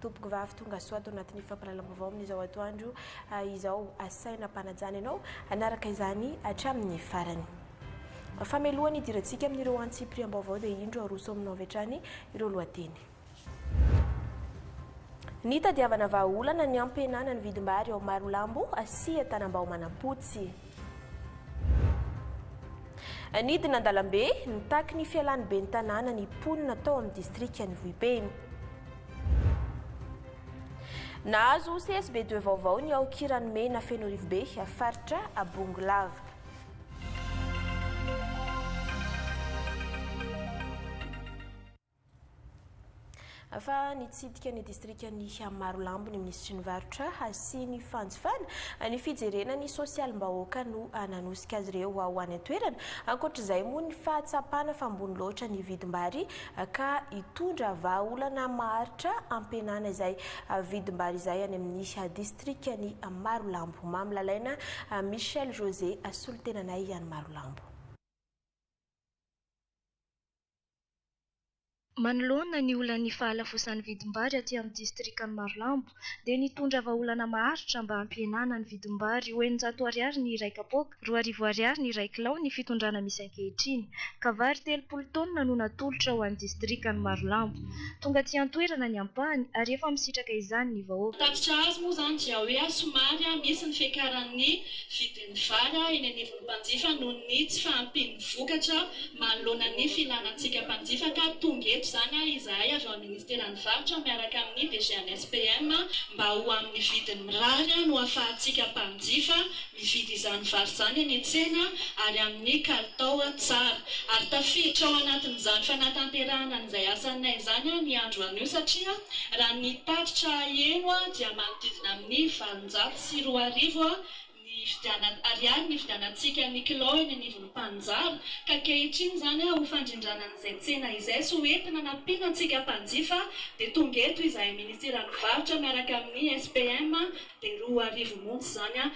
Tompoko vavy tonga soa ato anatin'ny fampahalalam-baovao amin'izao atoandro izao. Asaina ampanajana ianao hanaraka izany hatramin'ny farany. Famelohana idirantsika amin'ireo antsipiriam-baovao dia indro aroso aminao avy hatrany ireo lohateny. Nitadiavana vahaolana ny hampihenana ny vidim-bary ao Marolambo sy Tanambao Manampotsy. Nidina an-dalambe, nitaky ny fialan'ny ben'ny tanàna ny mponina tao amin'ny distrikan'i Vohipeno. Nahazo CSB 2 vaovao ny ao Kiranomena Fenorivobe, faritra Bongolava. Fa nitsidika ny distrikan'i Marolambo ny minisitry ny varotra sy ny fanjifana, ny fijerena ny sosialim-bahoaka no nanosika azy ireo ho any an-toerana. Ankoatra izay moa ny fahatsapana fa ambony loatra ny vidim-bary ka hitondra vahaolana maharitra hampihenana izay vidim-bary izay any amin'ny distrikan'i Marolambo. Mamy Lalaina, Michel José, solontenanay any Marolambo. Manoloana ny olan'ny fahalafosan'ny vidim-bary aty amin'ny distrikan'i Marolambo dia nitondra vahaolana maharitra mba hampihenana ny vidim-bary ho eninjato ariary ny iray kapoaka, roa arivo ariary ny iray kilao ny fitondrana misy ankehitriny ka vary telopolo taonina no natolotra ho an'ny distrikan'i Marolambo. Tonga aty an-toerana ny ampahany ary efa misitraka izany ny vahoaka. Ny tatitra azo moa izany dia hoe somary misy ny fiakaran'ny vidin'ny vary eny anivon'ny. mpanjifa noho ny tsy fahampian'ny vokatra manoloana ny fihinanantsika mpanjifa ka tonga eto izany aho izahay avy ao amin'ny Ministeran'ny Varotra miaraka amin'ny DGNSPM mba ho amin'ny vidiny mirary no ahafahantsika mpanjifa mividy izany vary izany eny an-tsena ary amin'ny kalitao tsara ary tafiditra ao anatin'izany fanatanterahana an'izay asanay izany ny andro anio satria raha ny tatitra heno dia manodidina amin'ny valonjato sy roa arivo ny hividianana ariary ny hividianantsika ny kilao eny anivon'ny mpanjary ka ankehitriny izany ho fandrindrana an'izay tsena izay sy ho entina anampiana antsika mpanjifa dia tonga eto izahay minisiteran'ny varotra miaraka amin'ny SPM dia roa arivo monja izany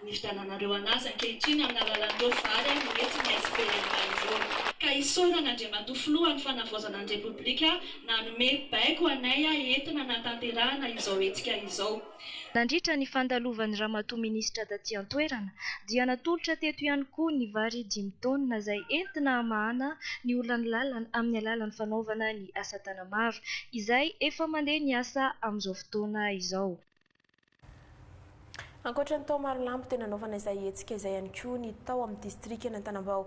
ny hividiananareo an'azy ankehitriny amin'ny alalan'ireo vary no entin'ny SPM ireo. Ka isaorana Andriamatoa Filoha ny Fanavaozana ny Repoblika nanome baiko anay entina hanatanterahana izao hetsika izao. Nandritra ny fandalovan'i Ramatoa Minisitra taty an-toerana dia natolotra teto ihany koa ny vary dimy taonina izay entina hamahana ny olan'ny lalana amin'ny alalan'ny fanaovana ny asatanana maro izay efa mandeha ny asa amin'izao fotoana izao. Ankoatra ny tao Marolambo dia nanaovana izay hetsika izay ihany koa ny tao amin'ny. Distrikan' Antanambao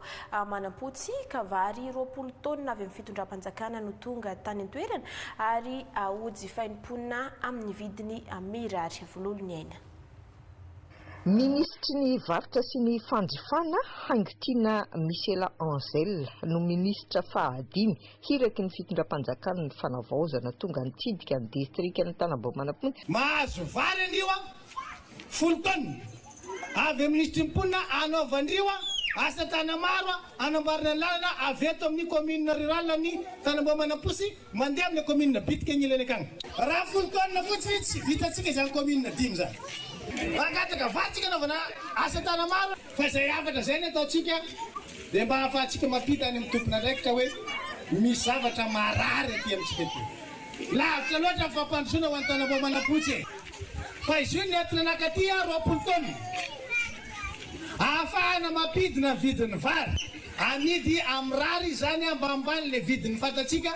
Manampotsy, ka vary roapolo taonina avy amin'ny fitondram-panjakana no tonga tany an-toerana ary hojifain'ny mponina amin'ny vidiny mirary. Vololo ny aina. Minisitry ny Varotra sy ny Fandrifana, Haingotiana Michela Angel, no minisitra fahadimy hiraky ny fitondram-panjakana ny fanavaozana tonga nitsidika ny distrikan' Antanambao Manampotsy. Mahazo vary anio aho folo taonina. Avy amin'ny ity mponina anaovandrio asa tana maro anamboarana ny lalana avy eto amin'ny commune rurale an'i Tanambao Manamposy mandeha amin'ilay commune bitika agnilany akagny. Raha folo taonina fotsiny tsy vitantsika izany commune dimy izany. Mangataka vadintsika anaovana asa tana maro fa izay hafatra izay ny ataontsika dia mba ahafahantsika mampita any amin'ny tompon'andraikitra hoe misy zavatra marary aty amintsika aty. Lavitra loatra ny fampandrosoana ho an'i Tanambao Manamposy e! Paiso ny aty nanakaty aho roapolo taona ahafahana mampidina ny vidin'ny vary amidy a mirary izany ambanimbany le vidin'ny fantatsika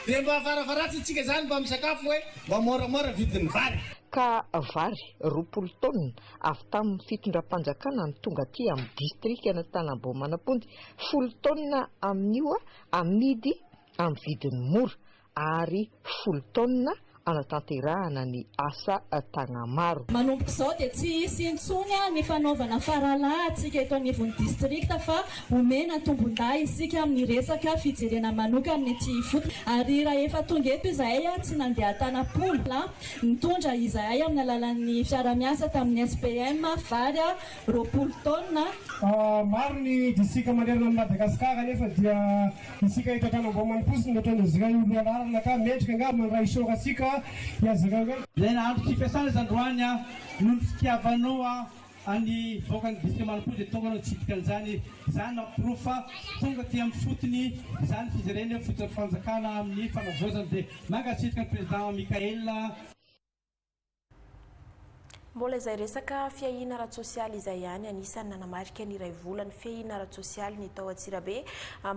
dia mba varavaratsintsika izany mba misakafo hoe mba moramora vidin'ny vary. Ka vary roapolo taona avy tamin'ny fitondram-panjakana no tonga aty amin'ny distrikan'Antanambao Manamponja folo taona amin'io a amidy amin'ny vidiny mora Ary folo taonina hanatanterahana ny asa Tagnamaro. Manomboka izao dia tsy hisy intsony ny fanaovana faralahantsika eto anivon'ny distrikta fa omena tombon-dahy isika amin'ny resaka fijerena manokana ny ety ifotony ary rahefa tonga eto izahay tsy nandeha tanam-pola na nitondra izahay amin'ny alalan'ny fiara-miasa tamin'ny SPM vary roapolo taonina Maro ny distrika manerana an'i Madagasikara anefa dia Isika eto an-tany Ambohimaniposy no nataon'izy ireo ho lohalaharana ka mendrika angaha mandray isaora antsika iazy ireo e! Ilay nahandro tsy fiasana izany roany a! Noho ny fitiavanao an'i vahoaka ny distrika Manompo dia tonga anao nitsidika an'izany. Izany mampirofo fa tonga aty amin'ny fotony izany fijerena hoe fototra fanjakana amin'ny fanavaozana. Dia mankasitraka ny Président Michaël. Mbola izay resaka fiahiana ara-tsosialy izay ihany anisan'ny nanamarika ny iray volan'ny fiahiana ara-tsosialy ny tao Antsirabe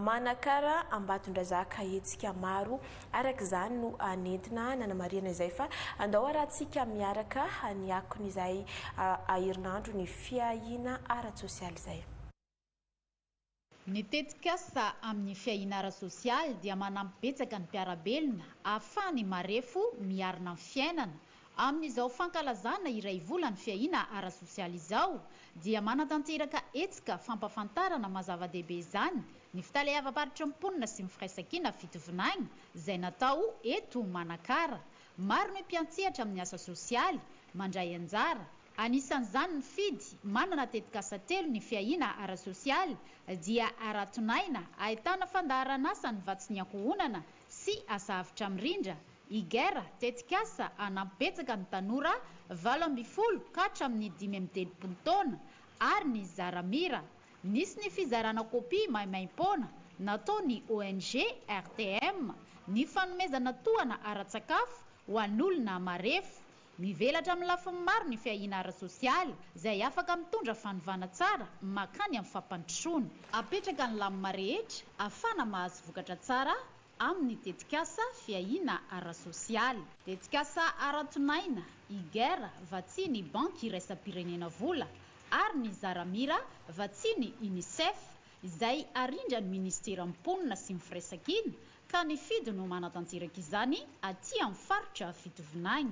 Manakara Ambatondrazaka hetsika maro araka izany no nentina nanamarihana izay fa andao arahantsika miaraka ny akony izay aherinandro ny fiahiana ara-tsosialy izay. Ny tetikasa amin'ny fiahiana ara-sosialy dia manampy betsaka ny mpiara-belona ahafahany marefo miarina amin'ny fiainana. Amin'izao fankalazana iray volan'ny fiahiana ara-sosialy izao dia manatanteraka hetsika fampafantarana maha zava-dehibe izany ny Fitaleavam-paritry ny Mponina sy ny Firaisankina Fitovinagny izay natao eto Manakara Maro ny mpiantsehatra amin'ny asa sosialy mandray anjara, anisan'izany ny Fidy, manana tetikasa telo, ny Fiahiana ara-sosialy, Dia Araton'aina, ahitana fandaharan'asa ny Vatsin'ny ankohonana sy Asa avotra mirindra, IGER, tetikasa hanampy betsaka ny tanora valo ambin'ny folo ka hatramin'ny dimy amby telopolo taona, ary ny Zaramira, Nisy ny fizarana kopia maimaim-poana nataon'ny ONG RTM ny fanomezana tohana ara-tsakafo ho an'olona marefo. Mivelatra amin'ny lafiny maro ny fiahiana ara-tsosialy izay afaka mitondra fanovana tsara mankany amin'ny fampandrosoana. Apetraka ny lamina rehetra afana mahazo vokatra tsara amin'ny tetikasa fiahiana ara-sosialy. Tetikasa ara-tonaina, IGER, vatsian'ny Banky Iraisam-pirenena Vola ary ny Zaramira, vatsian'ny Unicef, izay arindran'ny Minisiteran'ny Mponina sy ny Firaisankina, ka ny Fido no manatanteraka izany aty amin'ny faritra Fitovinany.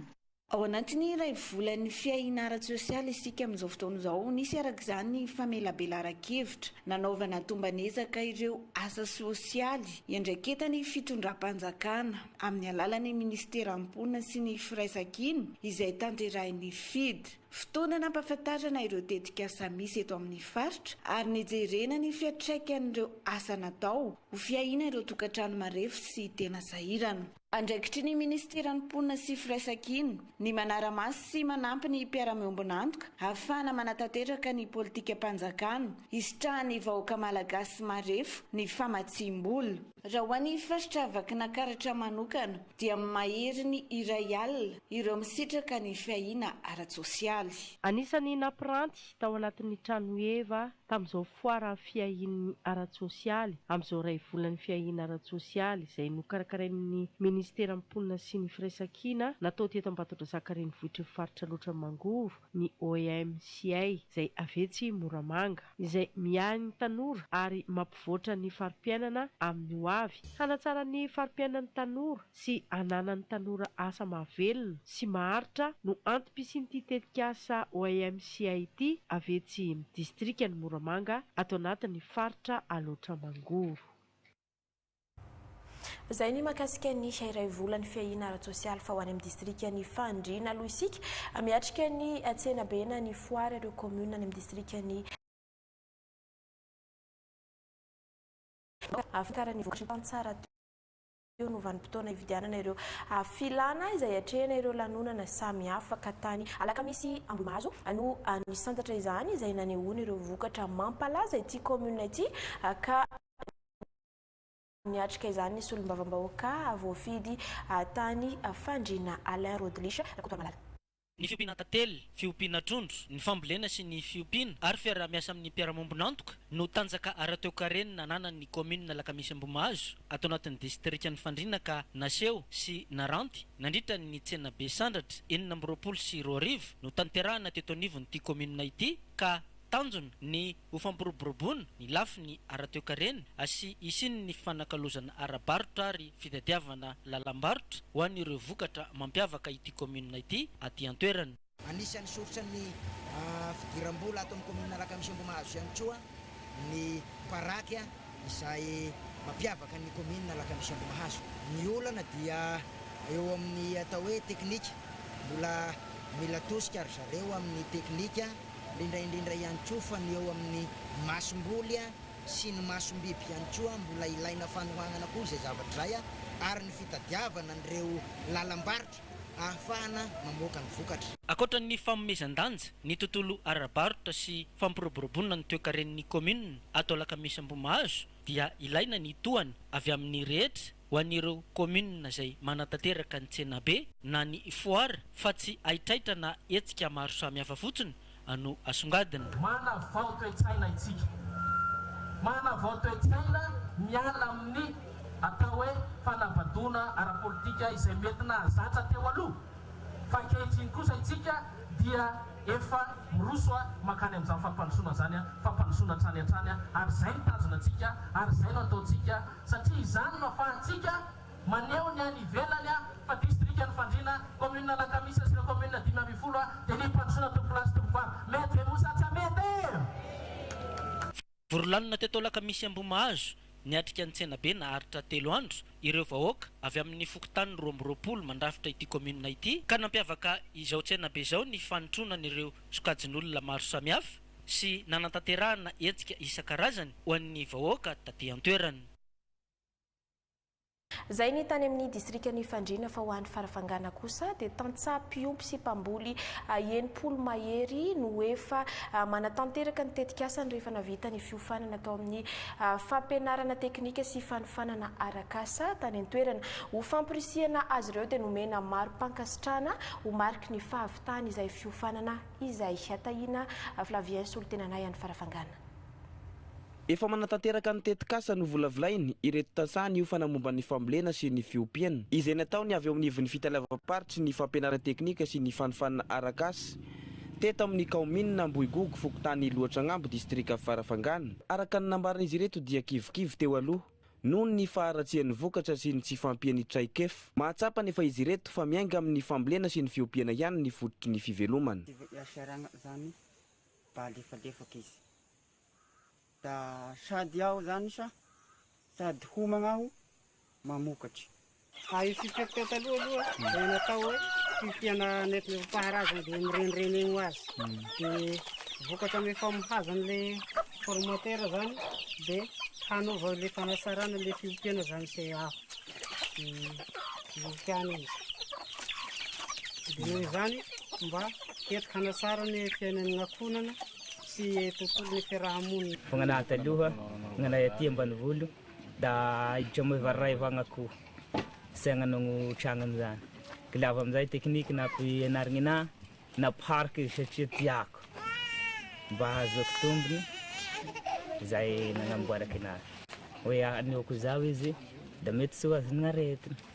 Ao anatin'ny iray volan'ny fiahiana ara-tsosialy isika amin'izao fotoana izao. Nisy araka izany ny famelabelaran-kevitra nanaovana tomban'ezaka ireo asa sosialy iandraiketan'ny fitondram-panjakana amin'ny alalan'ny minisiteran'ny Mponina sy ny Firaisankina izay tanterahin'ny FIDD. Fotoana nampahafantarana ireo tetikasa misy eto amin'ny faritra ary nijerena ny fiantraikan'ireo asa natao ho fiahiana ireo tokantrano marefo sy tena sahirana. Andraikitry ny Minisiteran'ny Mponina sy Firaisankina ny manara-maso sy manampy ny mpiara-miombon'antoka ahafahana manatanteraka ny politikam-panjakana hisitrahan'ny vahoaka malagasy marefo ny famatsiam-bola. Raha ho an'ny faritra Vakinankaratra manokana dia mahery ny iray alina ireo misitraka ny fiahiana ara-tsosialy. Anisan'ny nampiranty tao anatin'ny trano Eva tamin'izao foara fiahian'ny ara-tsosialy amin'izao iray volan'ny fiahiana ara-tsosialy izay nokarakarain'ny Ministeran'ny Mponina sy ny Firaisankina natao teto Ambatondrazaka Renivohitry ny Faritra Alaotra Mangovo ny OEMCA izay avy etsy Moramanga izay miahy ny tanora ary mampivoatra ny fari-piainana amin'ny hoavy. Hanatsara ny fari-piainan'ny tanora. sy ananan'ny tanora asa mahavelona sy maharitra no antom-pisian'ity tetikasa OIMCI ity avy etsy amin'ny distrikan'i Moramanga ato anatin'ny faritra Alaotra Mangoro. Izay ny mahakasika ny iray volan'ny fiahiana ara-tsosialy fa ho any amin'ny distrikan'i Fandriana aloha isika miatrika ny tsenabe na ny foara ireo kaominina any amin'ny distrikan'i Fandriana. eo no vanim-potoana hividianana ireo filana izay atrehina ireo lanonana samihafa ka tany Alakamisy Ambohimahazo no nisantatra izany izay nanehoany ireo vokatra mampalaza ity kaominina ity ka niatrika izany ny solombavambahoaka voafidy tany Fandriana Alain Rodelisha Rakotomalala. ny fiompiana tantely, fiompiana trondro, ny fambolena sy ny fiompiana ary fiaraha-miasa amin'ny mpiara-miombon'antoka no tanjaka ara-toekareny nananan'ny kaominina Alakamisy Ambohimahazo ato anatin'ny distrikan'i Fandriana ka naseho sy naranty nandritra ny tsenabe Sandratra enina amby roapolo sy roa arivo notanterahina teto anivon'ity kaominina ity ka tanjona ny Ho fampiroboroboana ny lafiny ara-toekarena sy hisian'ny fifanakalozana ara-barotra ary fitadiavana lalam-barotra ho an'ireo vokatra mampiavaka ity kaominina ity aty an-toerana. Anisan'ny soritra ny fidiram-bola ato amin'ny kaominina Alakamisy Ambohimahazo ihany koa ny paraky. Izay mampiavaka ny kaominina Alakamisy Ambohimahazo. Ny olana dia eo amin'ny atao hoe teknika, mbola mila tosika ry zareo amin'ny teknika, indrindra indrindra ihany koa fa ny eo amin'ny masomboly sy ny masombiby ihany koa mbola ilaina fanohanana koa izay zavatra izay ary ny fitadiavana an'ireo lalam-barotra. ahafahana mamoaka ny vokatra. Ankoatra ny fanomezan-danja ny tontolo ara-barotra sy fampiroboroboana ny toekaren'ny kaominina ato Alakamisy Ambohimahazo dia ilaina ny tohana avy amin'ny rehetra ho an'ireo kaominina izay manatanteraka ny tsenabe na ny foara fa tsy haitraitra na hetsika maro samihafa fotsiny no asongadina. Manavao toe-tsaina isika. Manavao toe-tsaina miala amin'ny atao hoe fanabadoana ara-politika izay mety nahazatra teo aloha, fa ankehitriny kosa isika dia efa miroso mankany amin'izany fampandrosoana izany, fampandrosoana hatrany hatrany, ary izay no tanjona antsika, ary izay no ataontsika, satria izany no afahantsika. Maneho ny any ivelany fa distrikan'i Fandriana, kaominina Alakamisy sy ireo kaominina dimy ambin'ny folo dia ny mpandrosoana tompolahy sy tompovavy. Mety ve moa sa tsy hamety? Vorolanona teto Alakamisy Ambohimahazo, niatrika ny tsenabe naharitra telo andro ireo vahoaka avy amin'ny fokontany roa amby roapolo mandrafitra ity kaominina ity ka nampiavaka izao tsenabe izao ny fanotronan'ireo sokajin'olona maro samihafa sy nanatanterahana hetsika isan-karazany ho an'ny vahoaka taty an-toerana. Izay ny tany amin'ny distrikan'Ifandriana fa ho any Farafangana kosa dia tantsaha mpiompy sy mpamboly enimpolo mahery no efa manatanteraka ny tetikasany rehefa navita ny fiofanana tao amin'ny fampianarana teknika sy fanofanana arak'asa tany an-toerana. Ho fampirisihana azy ireo dia nomena mari-pankasitrahana ho mariky ny fahavitany izay fiofanana izay. Tahiana Flavien solontenanay any Farafangana. Efa manatanteraka ny tetikasa novolavolainy ireto tantsaha niofana momba ny fambolena sy ny fiompiana, izay natao ny avy eo amin'ivon'ny fitaleavam-paritry ny fampianarana teknika sy ny fanofanana arak'asa, teto amin'ny kaominina Ambohigogo, fokontany Iloatragnambo, distrika Farafangana. Araka ny nambaran'izy ireto dia kivikivy teo aloha noho ny faharatsian'ny vokatra sy ny tsy fahampian'ny traikefa. Mahatsapa anefa izy ireto fa miainga amin'ny fambolena sy ny fiompiana ihany ny fototry ny fivelomana. Tsy voahery sahirana izany fa alefalefaka izy. Da sady aho zany sa sady homagna aho mamokatry. Fa io fifiako teo taloha aloha dia natao hoe fifiana nentim-paharazana dia mirenireny ho azy. Dia vokatra amin'ny famohaza an'ilay formatera zany dia hanova ilay fanatsarana ilay fiompiana zany se aho. Dia ihany izy. Dia noho izany mba hety hanatsara ny fiainan'ny ankohonana sy tontolon'ny fiaraha-monina. Fanganahy taloha, fanganahy aty ambanivolo da aiditra moa efa ray vagna ko zay agnanagno tragnony zany ko lava amizay technique nampianarigny anah nampihariko izy satria tiako mba hahazoako tombony zay nagnamboarako anazy hoe anehoako zaho izy da mety tsy ho azon'aretina.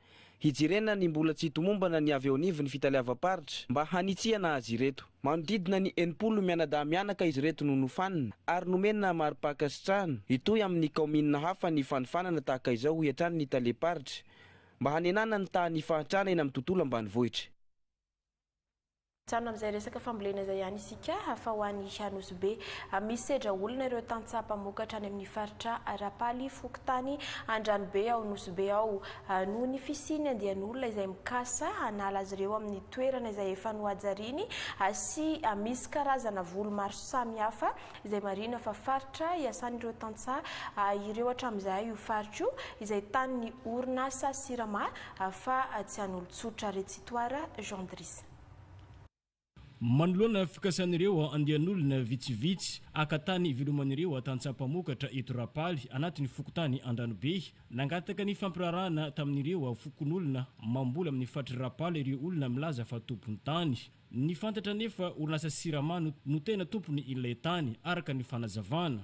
Hijerena ny mbola tsy tomombana ny avy eo anivon'ny fitaleavam-paritra mba hanitsiana azy ireto. Manodidina ny enimpolo mianadahy mianaka izy ireto no nofanina ary nomena mari-pankasitrahana. Hitohy amin'ny kaominina hafa ny fanofanana tahaka izao hoy hatrany ny talem-paritra mba hanenana ny tahan'ny fahantrana eny amin'ny tontolo ambanivohitra. Mijanona amin'izay resaka fambolena izay ihany isika fa ho any Anosy Be. Misy sedra olona ireo tantsaha mpamokatra any amin'ny faritra Rapaly, fokontany Andranobe ao Nosy Be ao. Noho ny fisian'ny andian'olona izay mikasa hanala azy ireo amin'ny toerana izay efa nohajariany sy misy karazana voly maro samihafa izay marihina fa faritra iasan'ireo tantsaha ireo hatramin'izay io faritra io izay tanin'ny orinasa Sirama Hafa tsy an'olon-tsotra Retsitoara Jean Dris. Manoloana fikasan'ireo andian'olona vitsivitsy haka tany hiveloman'ireo tantsaha mpamokatra eto Rapaly anatin'ny fokontany Andranobe, nangataka ny fampirarahana tamin'ireo fokonolona mamboly amin'ny faritr'i Rapaly ireo olona milaza fa tompon'ny tany. Ny fantatra anefa orinasa Sirama no tena tompon'ilay tany, araka ny fanazavana.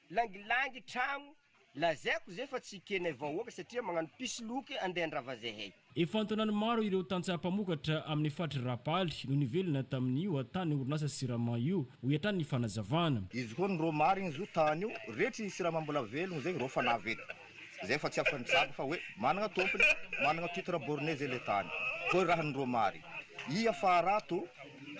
Langilangy tragno, lazaiko zay fa tsy kenay vahoaka satria magnano pisloky andeha handrava zahay. Efa an-taonany maro ireo tantsaha mpamokatra amin'ny faritry Rapaly no nivelona tamin'io hatahan'ny orinasa Sirama io, hoy hatrany ny fanazavana. Izy koa ny Romary iny zo tany io, retry i Sirama mbola velogno zay reo fa nahavita zay fa tsy afa-nitsabo fa hoe managna tompony, managna titre borne zay le tany. Koa raha ny Romary, ia fa raha to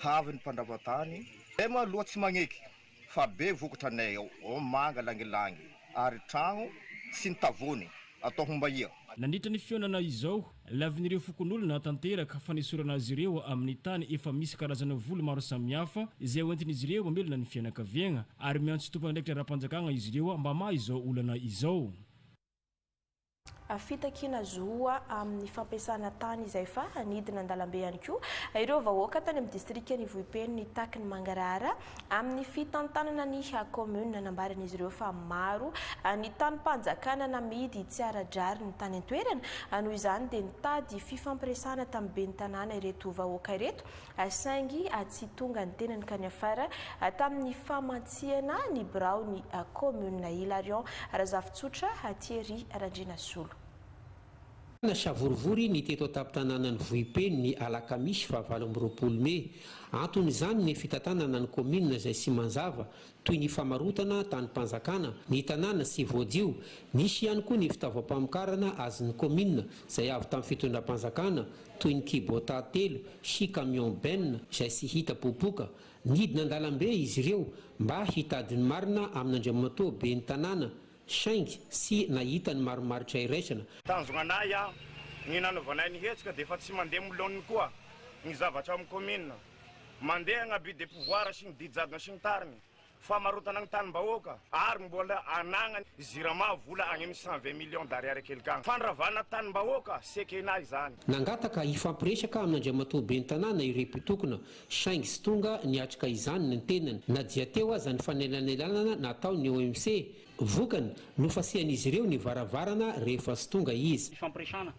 haavy ny mpandrava tany? Zay ma loha tsy magneky Fa be vokatra nay ao Omanga langilangy ary tragno tsy nitavony atao homba ia? Nandritra ny fihaonana izao, lavin'ireo fokonolona tanteraka fanesorana azy ireo amin'ny tany efa misy karazana voly maro samihafa izay hoentin'izy ireo mamelona ny fianakaviagna ary miantso tompon'andraikitra ara-panjakagna izy ireo mba hamaha izao olana izao. fitakiana zo amin'ny fampiasana tany izay fa nidina an-dalambe ihany koa ireo vahoaka tany amin'ny distrikan'i Vohipeno nitaky ny mangarahara amin'ny fitantanana ny kaominina. Nambaran'izy ireo fa maro ny tanim-panjakana namidy tsy ara-drariny tany an-toerana, noho izany dia nitady fifampiresahana tamin'ny ben'ny tanàna ireto vahoaka ireto saingy tsy tonga ny tenany ka niafara tamin'ny famantsihana ny biraon'ny kaominina Hilarion Razafitsotra Thierry Randrianasolo. Tena savorovoro ny teto an-tampon-tanànan'i Vohipeno ny alakamisy fahavalo amby roapolo mey. Anton'izany ny fitantanana ny kaominina izay tsy manzava toy ny famarotana tanim-panjakana, ny tanàna sy voadio. Nisy ihany koa ny fitaovam-pamokarana azon'ny kaominina izay avy tamin'ny fitondram-panjakana toy ny Kubota telo sy camion benne izay tsy hita popoka. Nidina an-dalambe izy ireo mba hitady ny marina amin'Andriamatoa ben'ny tanàna saingy tsy nahita ny marimaritra iraisana. Tanjona anay aho, ny nanaovanay ny hetsika dia efa tsy mandeha milaoniny koa ny zavatra ao amin'ny kaominina. Mandeha ny abus de pouvoir sy ny didy jadona sy ny tariny, famarotana ny tanim-bahoaka ary mbola anagna ny Jirama vola any amin'ny cent vingt millions d'ariary kely kagny. Fandravana tanim-bahoaka, Sekena izany. Nangataka hifampiresaka amin'Andriamatoa Ben'ny Tanàna ireo mpitokona saingy tsy tonga niatrika izany ny tenany na dia teo aza ny fanelanelanana nataon'ny OMC. Vokany, nofasian'izy ireo ny varavarana rehefa tsy tonga izy. Hifampiresana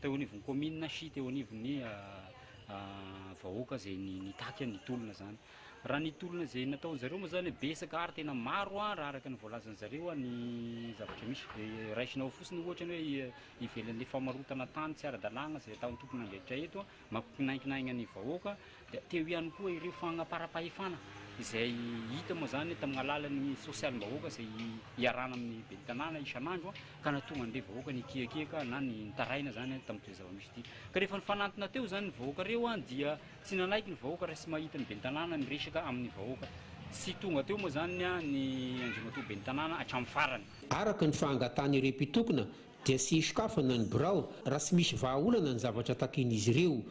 teo anivon'ny kaominina sy teo anivon'ny. vahoaka zay nitaky an ny tolona zany raha ny tolona zay nataon zareo moa zany betsaka ary tena maro an raha araka ny voalazan zareo an ny zavatra misy de raisina ao fotsiny ohatra ny hoe ivelan le famarotana tany tsy ara dalagna zay ataon tompon andraikitra eto an mampikinainkinaigna ny vahoaka de teo ihany koa ireo fagnapara pahefana izay hita moa zany tamina alalan ny sosialim bahoaka zay iarahana amin ny ben'ny tanàna isan andro an ka nahatonga an'ireo vahoaka nikiakiaka na ny nitaraina izany tamin'ity zava-misy ity. Ka rehefa nifanantona teo izany ny vahoaka ireo dia tsy nanaiky ny vahoaka raha tsy mahita ny ben'ny tanàna miresaka amin'ny vahoaka. Tsy tonga teo moa izany ny andriamatoa ben'ny tanàna hatramin'ny farany. Araka ny fahangatahan'ireo mpitokona dia tsy hisokafana ny birao raha tsy misy vahaolana ny zavatra takian'izy ireo.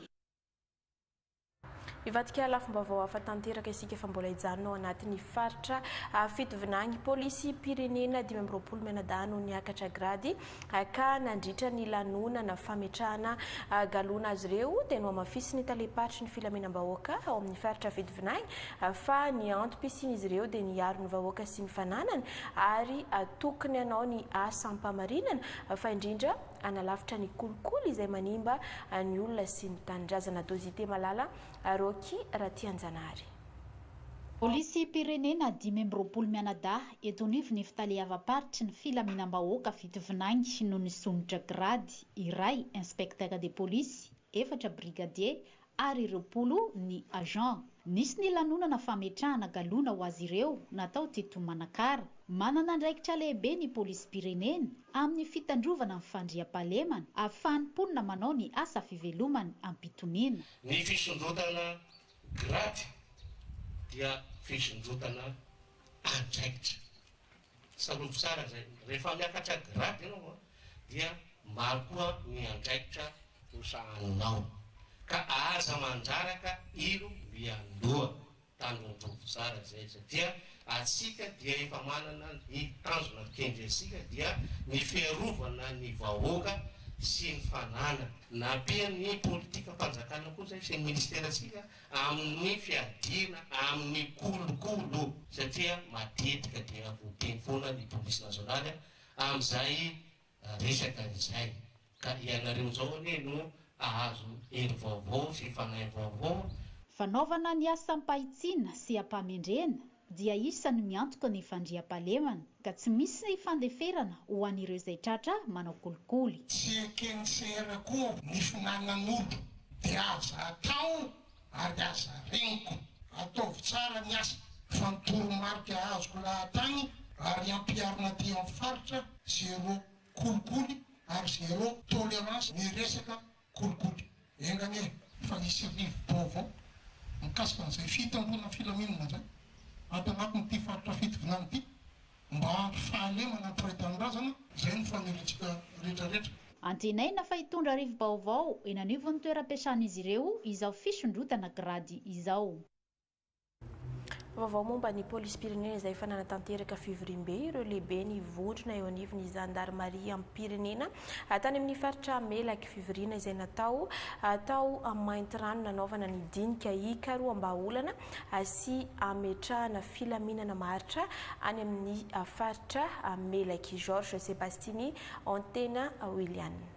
Hivadika lafim-baovao hafa tanteraka isika fa mbola hijanona ao anatin'ny faritra fitovinagny polisim-pirenena dimy amby roapolo mianadahy no niakatra grady ka nandritra ny lanonana fametrahana galona azy ireo dia nohamafisin'ny talem-paritry ny filaminam-bahoaka ao amin'ny faritra fitovinagny fa ny antom-pisian'izy ireo dia ny hiaro ny vahoaka sy ny fananany ary tokony hanao ny asam-pamarinana fa indrindra hanalavitra ny kolikoly izay manimba ny olona sy ny tanindrazana, Dozite Malala, Rocky Ratianjanahary. Polisim-pirenena dimy amby roapolo mianadahy eto anivon'ny Ifitaleavam-paritry ny Filaminam-bahoaka Fitovinany no nisondrotra grady, iray Inspecteur de police, efatra Brigadier ary ireo polo ny agent. Nisy ny lanonana fametrahana galona ho azy ireo natao teto Manakara. Manana andraikitra lehibe ny polisim-pirenena amin'ny fitandrovana ny fandriampahalemana, ahafahan'ny mponina manao ny asa fivelomany am-pitoniana. Ny fisondrotana grady dia fisondrotana andraikitra. Tsarovy tsara izay, rehefa miakatra grade ianao an, dia maro koa ny andraikitra ho sahaninao, ka aza mandraraka ilo miandoha. Tandrondrovy tsara izay, satria atsika dia efa manana ny tanjona kendry antsika dia ny fiarovana ny vahoaka sy ny fanana. Nampian'ny politikam-panjakana koa izay sy ny ministerantsika amin'ny fiadiana amin'ny kolokolo satria matetika dia voateny foana ny polisy nasionaly amin'izay resaka izay ka ianareo izao anie no hahazo hery vaovao sy fanahy vaovao. Fanaovana ny asam-pahitsiana sy am-pahamendrena? dia isany miantoka ny fandriampahalemana ka tsy misy fandeferana ho an'ireo izay tratra manao kolikoly. Tsy eken'ny CR akory ny finanan'olo dia aza atao ary aza regniko. Ataovy tsara ny asa fa ny toromarika azoko lahatany ary ampiharina aty amin'ny faritra zero kolikoly ary zero tolerance ny resaka Kolikoly. Eny anie fa hisy rivo-baovao mikasika an'izay fitandroana ny filaminana izay ato anatin'ity faritra fitovinany ity mba hampy fahalemana ny mpiray tanindrazana. Izay no fanerentsika rehetra rehetra. Antenaina fa hitondra rivo-baovao eny anivon'ny toeram-piasan'izy ireo izao fisondrotana grady izao. Vaovao momba ny polisim-pirenena izay efa nanatanteraka fivoriambe ireo lehiben'ny vondrona eo anivon'ny zandarimariam-pirenena tany amin'ny faritra Melaky. Fivoriana izay natao tao Maintirano nanaovana ny dinika hikaroham-bahaolana sy hametrahana filaminana maharitra any amin'ny faritra Melaky. Georges Sebastiny Antena Willian.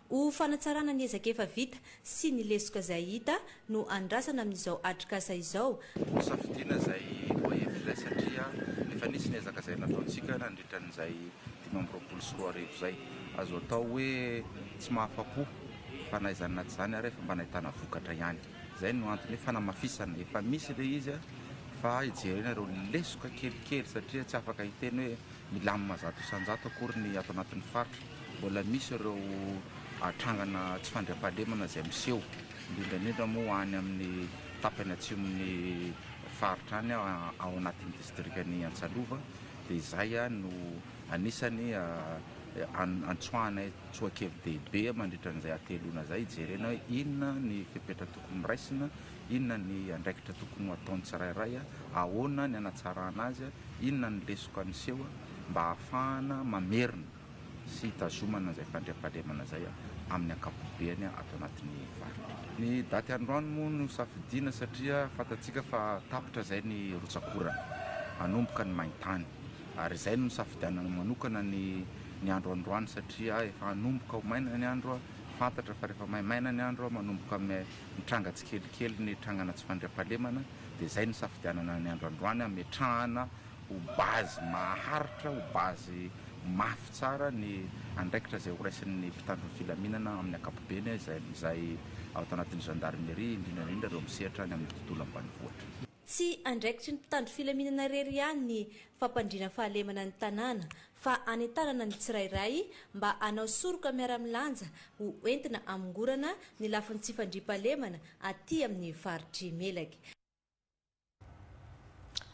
Ho fanatsarana ny ezaka efa vita sy ny lesoka izay hita no andrasana amin'izao atrikasa izao. Hosafidiana izay voahevitra izay satria efa nisy ny ezaka izay nataontsika nandritra an'izay dimy amby roapolo sy roa arivo izay. Azo atao hoe tsy mahafa-po fa na izany na tsy izany ary efa mba nahitana vokatra ihany. Izay no antony hoe fanamafisana. Efa misy ilay izy fa hijerena ireo lesoka kelikely satria tsy afaka hiteny hoe milamina zato isan-jato akory ny ato anatin'ny faritra. Mbola misy ireo trangana tsy fandriampahalemana izay miseho, indrindra indrindra moa any amin'ny tapany atsimon'ny faritra any ao anatin'ny distrikan'i Antsalova, dia izay no anisany antsoahanay tsoa-kevi-dehibe mandritra an'izay hateloana izay, hijerena hoe inona ny fepetra tokony raisina, inona ny andraikitra tokony ho ataon'ny tsirairay, ahoana ny hanatsarana azy, inona ny lesoka miseho mba hahafahana mamerina. sy hitazomana izay fandriampahalemana izay amin'ny ankapobeny ato anatin'ny faritra. Ny daty androany moa no safidiana satria fantatsika fa tapitra izay ny rotsak'orana, hanomboka ny main-tany ary izay no nisafidianana manokana ny ny andro androany satria efa hanomboka ho maina ny andro, fantatra fa rehefa maimaina ny andro manomboka mitranga tsikelikely ny trangana tsy fandriampahalemana dia izay no nisafidianana ny andro androany hametrahana ho base maharitra, ho base mafy tsara ny andraikitra izay horaisin'ny mpitandro ny filaminana amin'ny ankapobeny izay ao anatin'ny Gendarmerie, indrindra indrindra ireo misehatra any amin'ny tontolo ambanivohitra. Tsy andraikitry ny mpitandro filaminana irery ihany ny fampandriana fahalemana ny tanàna fa anentanana ny tsirairay mba hanao soroka miara-milanja ho entina hamongorana ny lafiny tsy fandriampahalemana aty amin'ny faritr'i Melaky.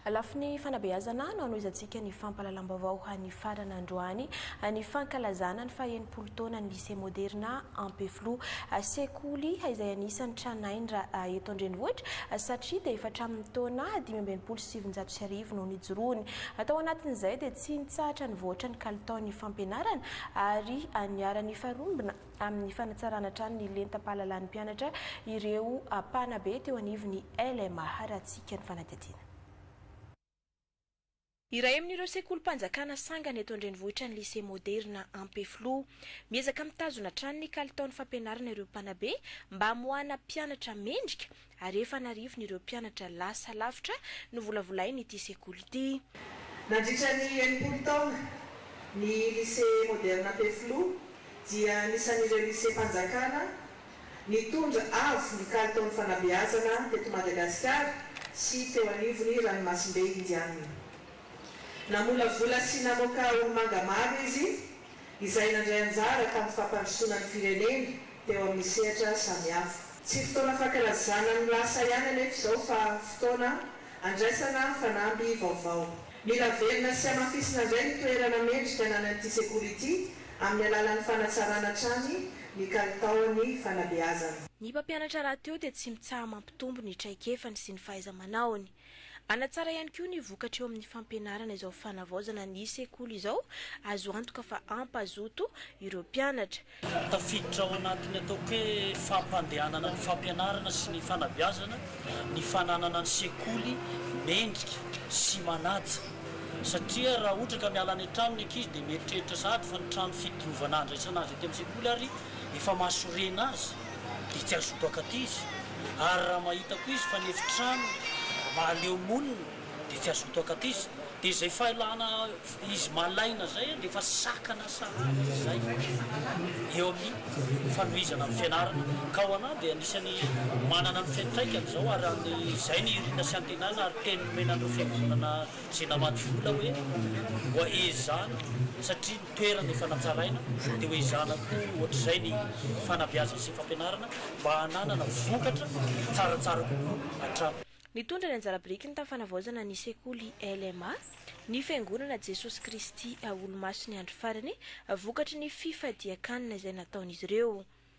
Lafiny fanabeazana no hanohizantsika ny fampahalalam-baovao an'ny farana androany, ny fankalazana ny faha enimpolo taonan'ny Lycée Moderna Ampefiloha. Sekoly izay anisan'ny tranainy raha eto an-drenivohitra satria dia efa hatramin'ny taona dimy amby enimpolo sy sivinjato sy arivo no nijoroany. Tao anatin'izay dia tsy nitsahatra nivoatra ny kalitaon'ny fampianarana ary niharan'ny faharombona. amin'ny fanatsarana hatrany ny lentam-pahalalan'ny mpianatra ireo mpanabe teo anivon'ny LMA. Haratsiaka ny fanadihadiana. Iray amin'ireo sekolim-panjakana sangany eto an-drenivohitra ny Lycée Moderne Ampefiloha. Miezaka mitazona hatrany ny kalitaon'ny fampianarana ireo mpanabe mba hamoahana mpianatra mendrika ary efa an'arivony ireo mpianatra lasa lavitra novolavolain'ity sekoly ity. Nandritra ny enimpolo taona, ny Lycée Moderne Ampefiloha dia anisan'ireo liseam-panjakana nitondra avo ny kalitaon'ny fanabeazana teto Madagasikara sy teo anivon'ny ranomasimbe Indianina. Namolavola sy namoaka olo-manga maro izy, izay nandray anjara tamin'ny fampandrosoana ny firenena teo amin'ny sehatra samihafa. Tsy fotoana fankalazana ny lasa ihany anefa izao fa fotoana andraisana fanamby vaovao. Mila averina sy hamafisina indray ny toerana mendrika ananan'ity sekoly ity amin'ny alalan'ny fanatsarana hatrany ny kalitaon'ny fanabeazana. Ny mpampianatra rahateo dia tsy mitsaha mampitombo ny traikefany sy ny fahaiza-manaony. Hanatsara ihany koa ny vokatra eo amin'ny fampianarana izao fanavaozana ny sekoly izao, azo antoka fa hampazoto ireo mpianatra. Tafiditra ao anatin'ny ataoko hoe fampandehanana ny fampianarana sy ny fanabeazana ny fananana ny sekoly mendrika sy manaja satria raha ohatra ka miala any an-trano ny ankizy dia mieritreritra sahady fa ny trano fidiovana handraisana azy aty amin'ny sekoly ary efa mahasorena azy. dia tsy azo obaka aty izy ary raha mahita koa izy fa ny efitrano mahaleo monina dia tsy azo obaka aty izy dia izay fahelana izy malaina izay dia efa sakana sahady izay eo amin'ny fanohizana ny fianarana ka ho anah dia anisany manana ny fiantraikany izao ary izay ny hirina sy antenana ary teny nomena an'ireo fiangonana Tsy namaky vola hoe mboa ezahana satria ny toerana efa natsaraina dia ho ezahana koa ohatr'izay ny fanabeazana sy fampianarana mba hananana vokatra tsaratsara kokoa hatrany. Nitondra ny anjara biriky ny tafanavaozana ny sekoly LMA ny Fiangonana Jesosy Kristy Olomasiny Andro Farany vokatry ny fifadian-kanina izay nataon'izy ireo.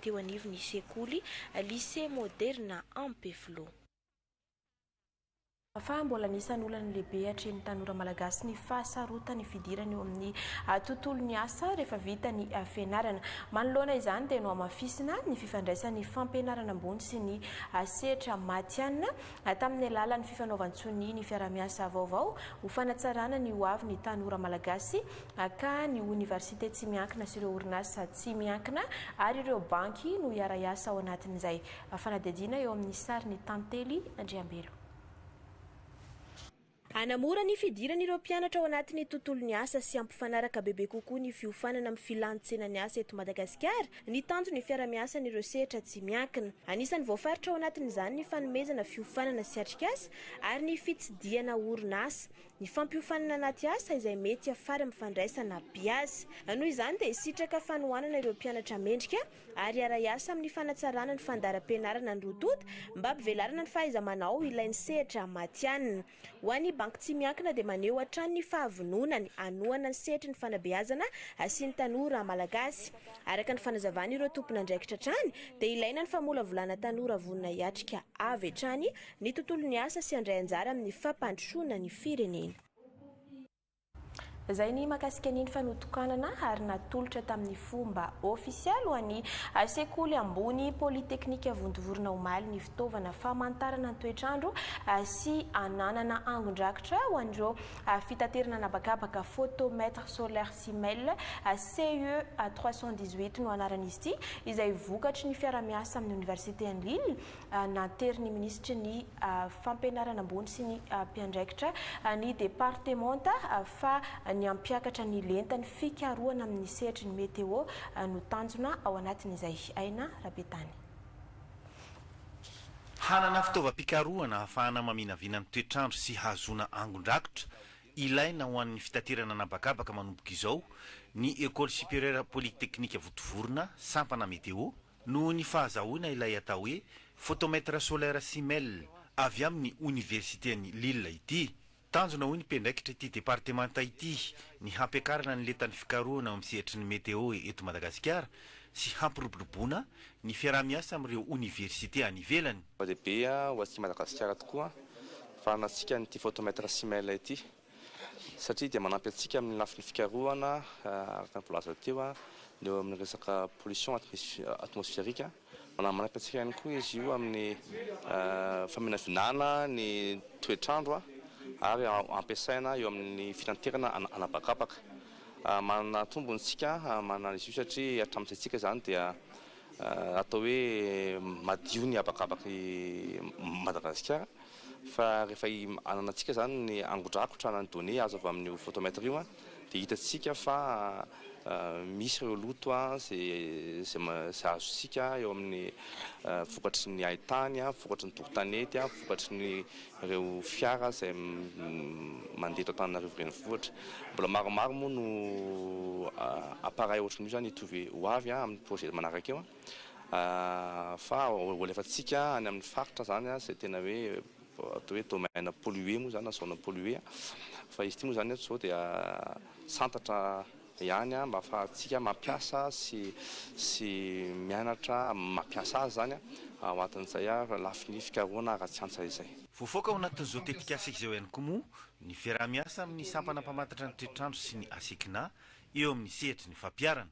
teo anivon'ny sekoly Lycée Moderna Ampefiloha. Fa mbola anisan'ny olana lehibe atrehin'ny tanora malagasy ny fahasarotan'ny fidirana eo amin'ny tontolon'ny asa rehefa vita ny fianarana. Manoloana izany dia nohamafisina ny fifandraisan'ny fampianarana ambony sy ny sehatra matihanina tamin'ny alalan'ny fifanaovan-tsonia ny fiaraha-miasa vaovao ho fanatsarana ny hoavin'ny tanora malagasy Aka, ny oniversite tsy miankina sy ireo orinasa tsy miankina ary ireo banky no hiara-hiasa ao anatin'izay. Fanadihadiana eo amin'ny sarin'i Tantely Andriambelo. Hanamora ny fidiran'ireo mpianatra ao anatin'ny tontolon'ny asa sy hampifanaraka bebe kokoa ny fiofanana amin'ny filàn-tsenan'ny asa eto Madagasikara ny tanjon'ny fiara-miasan'ireo sehatra tsy miankina. Anisan'ny voafaritra ao anatin'izany ny fanomezana fiofanana sy atrikasa ary ny fitsidihana orinasa. Ny fampiofanana anaty asa izay mety hiafara amin'ny fandraisana mpiasa. Noho izany dia hisitraka fanohanana ireo mpianatra mendrika ary hiara-hiasa amin'ny fanatsarana ny fandaharam-pianarana ny roa tonta mba hampivelarana ny fahaiza-manao ilain'ny sehatra matihanina. Ho an'ny Banky Tsy Miankina dia maneho hatrany ny fahavononany hanohana ny sehatry ny fanabeazana sy ny tanora malagasy. Araka ny fanazavan'ireo tompon'andraikitra hatrany dia ilaina ny famolavolana tanora vonona hiatrika avy hatrany ny tontolon'ny asa sy handray anjara amin'ny fampandrosoana ny firenena. Izay ny mahakasika ny fanotokanana ary natolotra tamin'ny fomba ofisialy ho an'ny sekoly ambony Polytechnique Vontovorona omaly ny fitaovana famantarana ny toetr'andro sy ananana angon-drakitra ho an'ireo ary fitaterana an'habakabaka photomètre solaire sy mail, CEA trois cent dix-huit no anaran'izy ity, izay vokatry ny fiara-miasa amin'ny Oniversiten'i Lille, nanterin'ny minisitry ny Fampianarana ambony sy ny mpiandraikitra ny departemanta fa ny hampiakatra ny lentan'ny fikarohana amin'ny sehatry ny meteo no tanjona ao anatin'izay. Aina Rabetany. Hanana fitaovam-pikarohana ahafahana maminavina ny toetr'andro sy hahazoana angon-drakitra ilaina ho an'ny fitaterana an'habakabaka manomboka izao ny Ecole Supérieure Polytechnique Votovorona, Sampana Météo, noho ny fahazahoana ilay atao hoe Photomètre Solaire Simel avy amin'ny Oniversiten'i Lille ity. Tanjona hoy ny mpiandraikitr'ity departemanta ity ny hampiakarana ny lentan'ny fikarohana ao amin'ny sehatry ny meteo eto Madagasikara sy hampiroboroboana ny fiaraha-miasa amin'ireo oniversite any ivelany. Zava-dehibe ho antsika Madagasikara tokoa ny fananantsika an'ity photomètre Simel ity satria dia manampy antsika amin'ny lafiny fikarohana araka ny voalazako teo ny eo amin'ny resaka pollution atmospherique. Manamariaka antsika ihany koa izy io amin'ny faminavinana ny toetr'andro ary ampiasaina eo amin'ny fitanterana an'habakabaka. Manana tombony isika manana izy io satria hatramin'ny saintsika izany dia atao hoe madio ny habakabak'i Madagasikara fa rehefa hanana antsika izany ny angodrakotra na ny données azo avy amin'io photomètre io, Dia hitantsika fa misy ireo loto izay azontsika eo amin'ny vokatry ny hain-tany, vokatry ny doro-tanety, vokatry ny ireo fiara izay mandeha eto Antananarivo Renivohitra. Mbola maromaro moa no appareils ohatran'io izany hitovy ho avy amin'ny projet manaraka eo fa ho alefantsika any amin'ny faritra izany izay tena hoe Vao atao hoe domaine pollué moa izany na zone pollué fa izy ity moa izany eto izao dia santatra ihany mba ahafahantsika mampiasa sy sy mianatra mampiasa azy izany ao anatin'izay lafiny fikarohana ara-tsiansa izay. Voafaoka ao anatin'izao tetikasa izao ihany koa moa ny fiaraha-miasa amin'ny sampana mpamantatra ny toetr'andro sy ny ACCNA eo amin'ny sehatry ny fampiharana.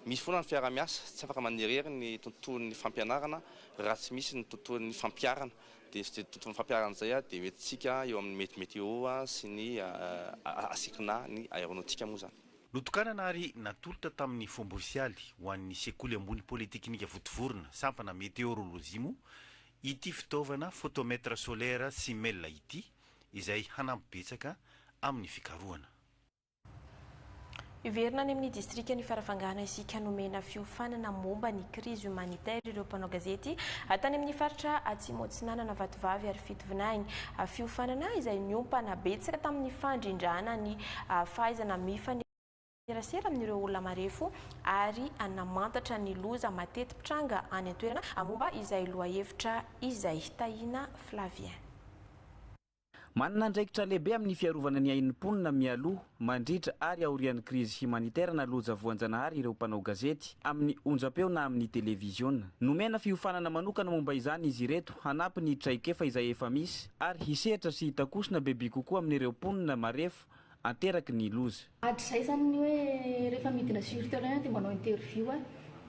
Misy foana ny fiarahamiasa, tsy afaka manirery ny tontolon'ny fampianarana raha tsy misy ny tontolon'ny fampiharana. Dia izay tontolon'ny fampiharana izay dia ho entintsika eo amin'ny mety météo sy ny asiako na ny aéronautique moa izany. Notokanana ary natolotra tamin'ny fomba ofisialy ho an'ny Sekoly ambony Polytechnika Votovorona, sampana Météorologie moa ity fitaovana photomètre solaire Simel ity izay hanampy betsaka amin'ny fikarohana. Hiverina any amin'ny distrikan'i Farafangana isika nomena fiofanana momba ny krizy humanitaire ireo mpanao gazety tany amin'ny faritra Atsimo Atsinanana Vatovavy ary Fitovinany. Fiofanana izay niompana betsaka tamin'ny fandrindrana ny fahaizana mifanerasera amin'ireo olona marefo ary namantatra ny loza mateti-pitranga any an-toerana momba izay lohahevitra izay. Tahina Flavien. Manana andraikitra lehibe amin'ny fiarovana ny ain'ny mponina mialoha, mandritra ary aorian'ny krizy himanitera na loja voanjanahary ireo mpanao gazety, amin'ny onjampeo na amin'ny televiziona. Nomena fiofanana manokana momba izany izy ireto hanampy ny traikefa izay efa misy ary hisehatra sy hitakosona bebe kokoa amin'ireo mponina marefo ateraky ny loza. Hatrizay zany ny hoe rehefa midina sur terrain dia manao interview aho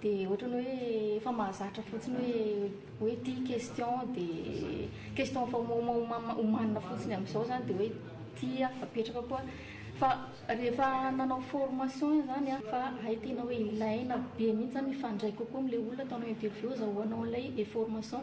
dia ohatrany hoe efa mahazatra fotsiny hoe hoe ity question dia question efa omaomama omanina fotsiny amin'izao zany dia hoe ity aho apetraka koa fa rehefa nanao formation izany aho fa hay tena hoe ilaina be mihitsy zany mifandray kokoa amin'ilay olona ataonao interview azahoanao an'ilay information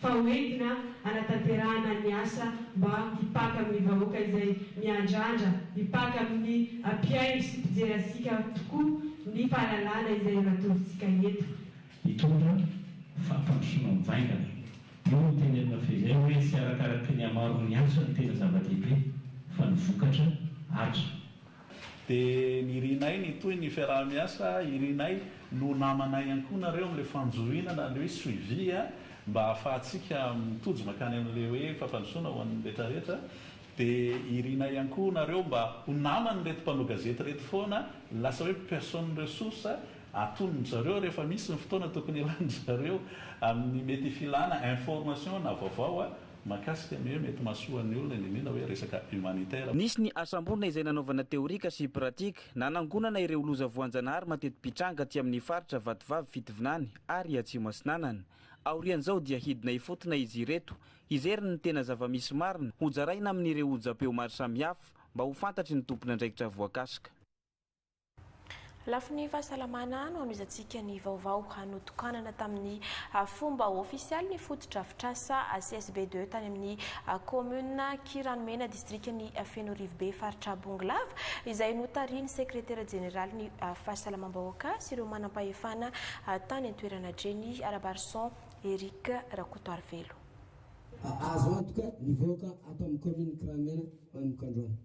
fa ho entina hanatanterahana ny asa mba hipaka amin'ny vahoaka izay miandrandra hipaka amin'ny mpihaino sy mpijery antsika tokoa ny fahalalana izay matorintsika eto. Hitondra fampandrosoana mivaingana. Io no teny amin'ny fehizay hoe tsy arakaraky ny hamaron'ny asa no tena zava-dehibe fa ny vokatra, Atra. Dia nirinay nitohy ny fiaraha-miasa, irinay no namanay ihany koa nareo amin'ilay fanjohiana na ilay hoe suivi a, mba ahafahantsika mitojo mankany amin'ilay hoe fampandrosoana ho an'ny rehetra rehetra, dia irinay ihany koa nareo mba ho naman'ireto mpanao gazety ireto foana, lasa hoe personne ressource atonony zareo rehefa misy ny fotoana tokony hilany zareo amin'ny mety filana information na vaovao a. Mahakasika ny hoe mety mahasoa ny olona ny mino hoe resaka humanitaire. Nisy ny asam-borona izay nanaovana teorika sy pratika nanangonana ireo loza voanjanahary mateti-pitranga aty amin'ny faritra Vatovavy Fitovinany ary Atsimo Atsinanana. Aorian'izao dia hidina hifotona izy ireto hijery ny tena zava-misy marina hojaraina amin'ireo onjam-peo maro samihafa mba ho fantatry ny tompon'andraikitra voakasika. Lafiny fahasalamana, anohanoizantsika ny vaovao notokanana tamin'ny fomba ofisialy ny fotodrafitrasa CSB deux tany amin'ny kaominina Kiranomena, distrikan'i Fenoarivobe, faritra Bongolava, izay notarihin'ny sekretera jeneralin'ny fahasalamam-bahoaka sy ireo manam-pahefana tany an-toerana Drenny Rabarison Eric Rakotoarivelo. Azo antoka ny vahoaka ato amin'ny kaominina Kiranomena manomboka androany.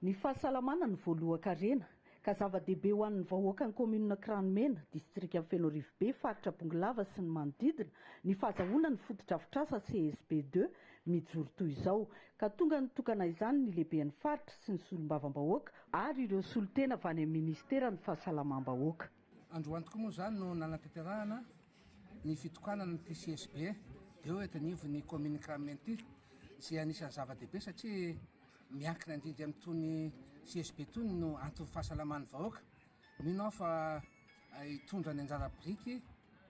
Ny fahasalamana no voalohan-karena, ka zava-dehibe ho an'ny vahoakan'ny kaominina Kranomena, distrikan'i Fenoarivobe, faritra Bongolava sy ny manodidina, ny fahazahoana ny fotodrafitrasa CSB deux mijoro toy izao, ka tonga nitokana izany ny lehiben'ny faritra sy ny solombavambahoaka, ary ireo solontena avy any amin'ny minisiteran'ny fahasalamam-bahoaka. Androany tokoa moa izany no nanatanterahana ny fitokanana ity CSB eo eto anivon'ny kaominina Kramen ity izay anisan'ny zava-dehibe satria miankina indrindra amin'itony CSB itony no anton'ny fahasalaman'ny vahoaka. Mino aho fa hitondra ny anjara biriky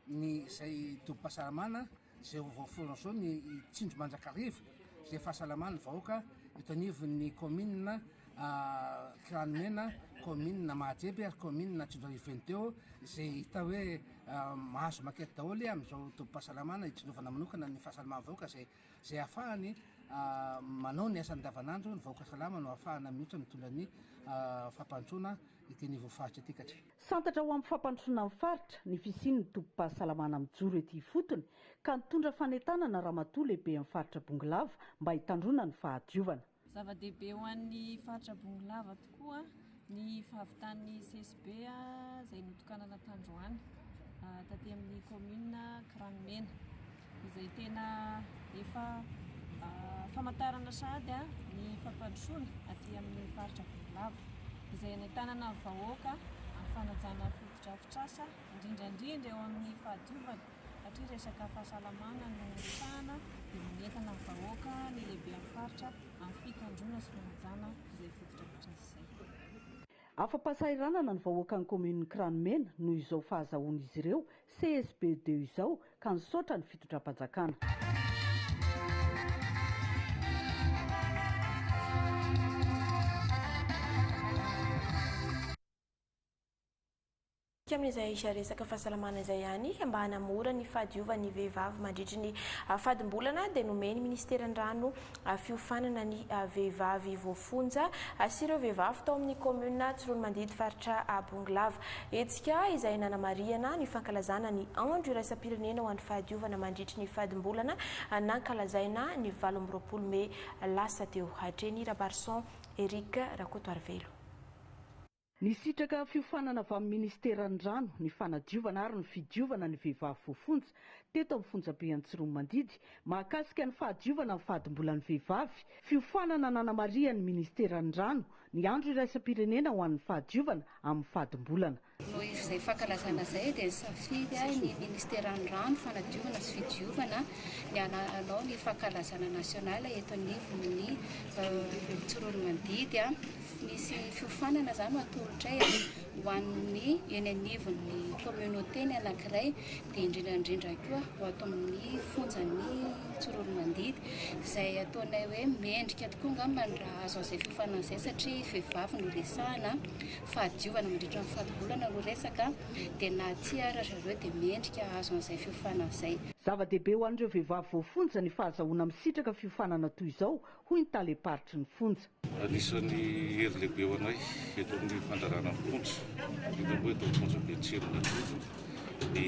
ny izay tobim-pahasalamana izay ho voaforon' izao ny tsindry mandrakariva izay fahasalaman' ny vahoaka eto anivon' ny kaominina Kiranimena, kaominina Mahajeby ary kaominina Tsinjoarivo Veniteo izay hita hoe mahazo makety daholo amin' izao tobim-pahasalamana itsinjovana manokana ny fahasalaman' ny vahoaka izay izay ahafahany manao ny asany andavanandro, ny vahoaka salama no ahafahana mioitra mitondra ny fampandrosoana ity anivon' ny faritra ity ka. Santatra ho amin'ny fampandrosoana ny faritra ny fisian'ny tobim-pahasalamana mijoro ety ifotony ka nitondra fanentanana Ramatoa Lehiben'ny Faritra Bongolava mba hitandroana ny fahadiovana. Zava-dehibe ho an'ny Faritra Bongolava tokoa ny fahavitan'ny CSB izay notokanana tandroany taty amin'ny Kaominina Kiranimena. izay tena efa famantarana sahady ny fampandrosoana aty amin'ny faritra Bevilava, izay anentanana vahoaka amin'ny fanajana fotodrafitrasa, indrindra indrindra eo amin'ny fahadiovana satria resaka fahasalamana no resahana dia manentana ny vahoaka ny lehiben'ny faritra amin'ny fikandroana sy fanajana izay fotodrafitrasa izay. Afa-pahasahiranana ny vahoakan'ny kaominin'i Kranomena noho izao fahazahoan'izy ireo CSBD izao ka nisaotra ny fitondram-panjakana. Tsy amin'izay resaka fahasalamana izay ihany, mba hanamora ny fahadiovan'ny vehivavy mandritry ny fadim-bolana dia nomen'ny Ministeran'ny Rano fiofanana ny vehivavy voafonja sy ireo vehivavy tao amin'ny kaominina Tsiroanomandidy faritra Bongolava. Hetsika izay nanamarihana ny fankalazana ny andro iraisam-pirenena ho an'ny fahadiovana mandritry ny fadimbolana nankalazaina ny valo amby roapolo mey lasa teo. Hatreny Rabarison Eric Rakotoarivelo. Nisitraka fiofanana avy amin'ny Ministeran'ny Rano, ny Fanadiovana ary ny Fidiovana ny Vehivavy Voafonja teto amin'ny Fonjabe Antsiromandidy mahakasika ny fahadiovana ny fadimbolan'ny vehivavy, fiofanana nanamarihan'ny Ministeran'ny Rano ny Andro iraisam-pirenena ho an'ny fahadiovana amin'ny fadimbolana. Noho izay fankalazana izay dia nisafidy ny Ministeran'ny Rano, Fanadiovana sy Fidiovana ny hanao ny fankalazana nasionaly eto anivon'ny Antsiromandidy. Misy fiofanana zany no atolotray a, ho an'ny eny anivon'ny communauté-ny anankiray, dia indrindra indrindra koa ho ato amin'ny fonjan'i Tsororomandidy, izay ataonay hoe mendrika tokoa angamba ny raha azo izay fiofanana izay satria vehivavy no resahana, fahadiovana mandritra ny faribolana no resaka, dia na tia ara zareo dia mendrika hahazo an'izay fiofanana izay. Zava-dehibe ho an'ireo vehivavy voafonja ny fahazahoana misitraka fiofanana toy izao, hoy ny talem-paritry ny fonja. Anisan'ny hery lehibe ho anay eto amin'ny fandrarana ny fonja, indrindra moa eto amin'ny fonja Betsiron'Anjozoro, ny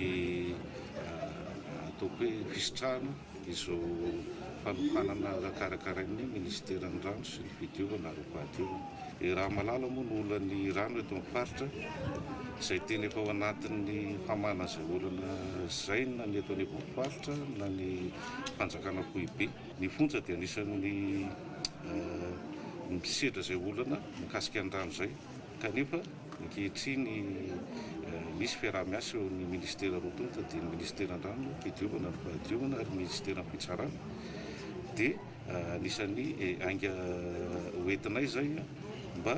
ataoko hoe fisitrahana izao fanohanana karakarain'ny minisiteran'ny Rano sy ny fidiovana ary fahadiovana. I Ramalala moa no olan'ny rano eto amin'ny faritra, izay tena efa ao anatin'ny famahana izay olana izay na ny eto anivon'ny faritra na ny fanjakana foibe. Ny fonja dia anisan'ny misedra izay olana mikasika ny rano izay kanefa ankehitriny misy fiaraha-miasa eo amin'ny ministera roa tonta dia ny ministeran'ny rano, fidiovana ary fahadiovana ary ny ministeran'ny fitsarana dia anisan'ny ainga hoentinay izay mba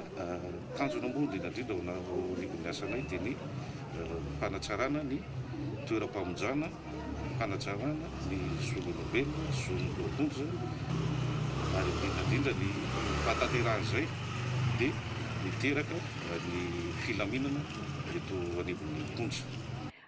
tanjona moa indrindra indrindra ao anivon'ny asanay dia ny fanatsarana ny toeram-pamonjana fanajàna ny zon'olombelona, zon'ny loha-boto izany ary indrindra indrindra ny fahatanterahan' izay dia miteraka ny filaminana eto anivon'ny Fonja.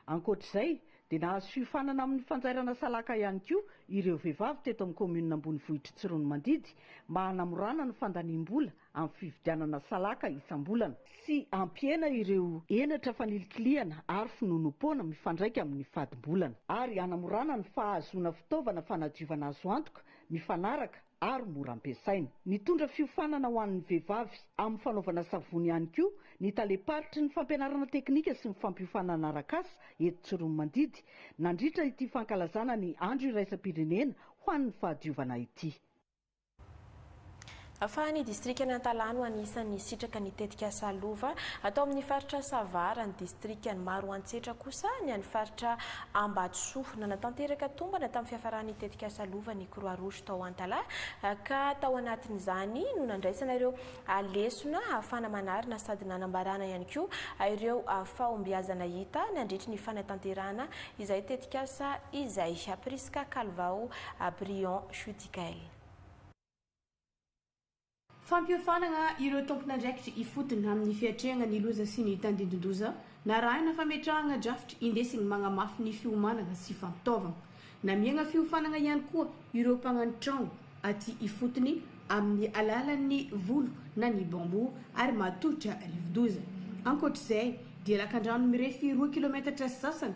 Ankoatra izay dia nahazo fiofanana amin'ny fanjairana salaka ihany koa ireo vehivavy teto amin'ny kaominina ambonivohitr'i Tsiroanomandidy mba hanamorana ny fandaniam-bola amin'ny fividianana salaka isam-bolana sy hampihena ireo henatra fanilikilihana ary finoanoam-poana mifandraika amin'ny fadim-bolana ary hanamorana ny fahazoana fitaovana fanadiovana azo antoka, mifanaraka ary mora ampiasaina. Nitondra fiofanana ho an'ny vehivavy amin'ny fanaovana savony ihany koa ny talem-paritry ny fampianarana teknika sy ny fampiofanana arak'asa eto Tsiroanomandidy nandritra ity fankalazana ny Andro iraisam-pirenena ho an'ny fahadiovana ity. Fa ny distrikan'i Antalaha no anisan'ny hisitraka ny tetikasa Lova atao amin'ny faritra Sava raha ny distrikan'i Maroantsetra kosa ny an'ny faritra Ambatosoa. Nanatanteraka tombana tamin'ny fiafaran'ny tetikasa Lova ny Croix Rouge tao Antalaha ka tao anatin'izany no nandraisana ireo lesona ahafahana manarina sady nanambarana ihany koa ireo fahombiazana hita nandritry ny fanatanterahana izay tetikasa izay. Prisca Calvao Brion. Gail. Fampiofanana ireo tompon'andraikitra ifotony amin'ny fiatrehana ny loza sy ny tandindon-doza, narahina fametrahana drafitra indesiny magnamafy ny fiomanana sy fampitaovana. Namihana fiofanana ihany koa ireo mpagnano trano aty ifotony amin'ny alalan'ny volo na ny bambou ary matotra rivodoza. Ankoatr'izay dia lakandrano mirefy roa kilometatra sy sasany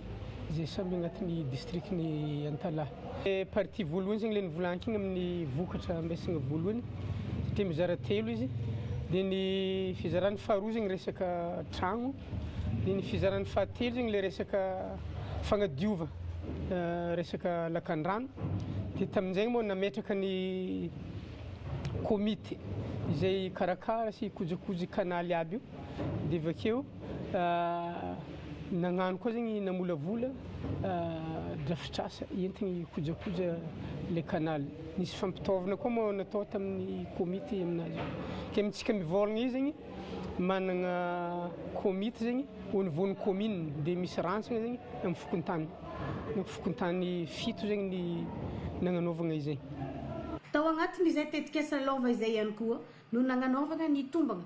izay samy agnatin'ny distrikan'i Antalaha. Partie voalohany zegny le nivolankina amin'ny vokatra ampiasaigna voalohany satria mizara telo izy, dia ny fizarany faharoa zegny resaka tragno, dia ny fizarany fahatelo zegny le resaka fagnadiova resaka lakandrano, dia tamin'izegny moa nametraka ny komity izay hikarakara sy hikojakoja i kanaly aby io, dia avy akeo. Nagnano koa zegny namolavola drafitrasa entigny hikojakoja le canal. Nisy fampitaovana koa moa natao tamin'ny komity aminazy io. Ke amintsika mivôlagna io zegny managna komity zegny au niveau ny commune de misy rantsana zegny amin'ny fokontany. Ny fokontany fito zegny ny nagnanaovagna izay. Tao agnatin'izay tetikasa lova izay ihany koa no nagnanaovagna ny tombagna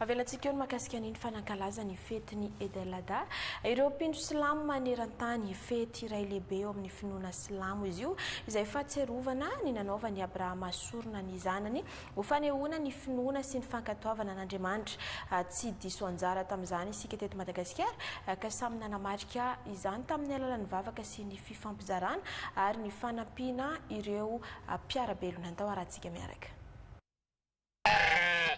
Avelantsika eo ny mahakasika ny ny fanankalaza ny fety ny Eid El Adha. Ireo mpino silamo maneran-tany, fety iray lehibe eo amin'ny finoana silamo izy io, izay fahatsiarovana ny nanaovan'i Abrahama sorona ny zanany ho fanehoana ny finoana sy ny fankatoavana an'Andriamanitra. Tsy diso anjara tamin'izany isika teto Madagasikara ka samy nanamarika izany tamin'ny alalan'ny vavaka sy ny fifampizarana ary ny fanampiana ireo mpiara-belona ny tao Harantsika miaraka.